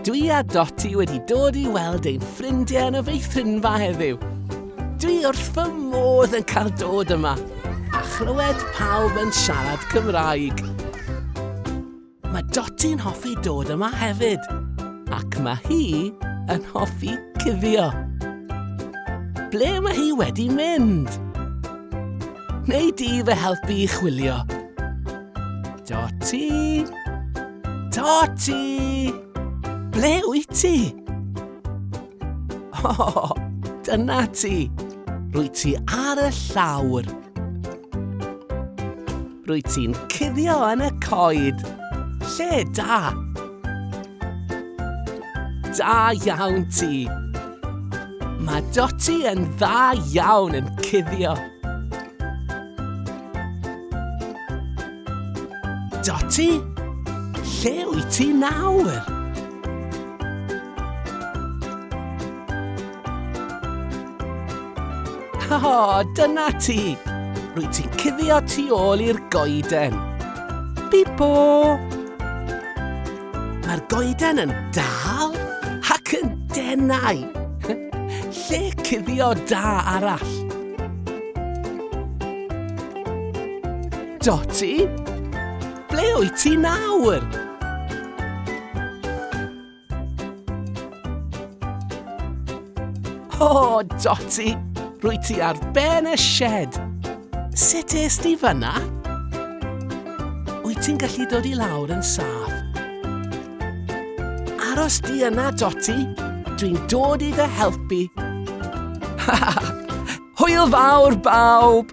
Dwi a Doti wedi dod i weld ein ffrindiau yn y feithrinfa heddiw. Dwi wrth fy modd yn cael dod yma a chlywed pawb yn siarad Cymraeg. Mae Doti'n hoffi dod yma hefyd. Ac mae hi yn hoffi cuddio. Ble mae hi wedi mynd? Neu di fe helpu i chwilio? Doti? Doti! Ble wyt ti? O, oh, dyna ti. Rwy ti ar y llawr. Rwyt ti'n cuddio yn y coed. Lle da! Da iawn ti! Mae Dotty yn dda iawn yn cuddio. Dotty, lle wyt ti nawr? O, dyna ti! Rwy ti'n cuddio tu ôl i'r goeden. Bipo! Mae'r goeden yn dal ac yn denau. Lle cuddio da arall. Doti, ble wyt ti nawr? O, oh, Dotty, rwy ti ar ben y shed. Sut es di fyna? Wyt ti'n gallu dod i lawr yn saff? Aros di yna, Dotty. Dwi'n dod i fy helpu. Hwyl fawr, bawb!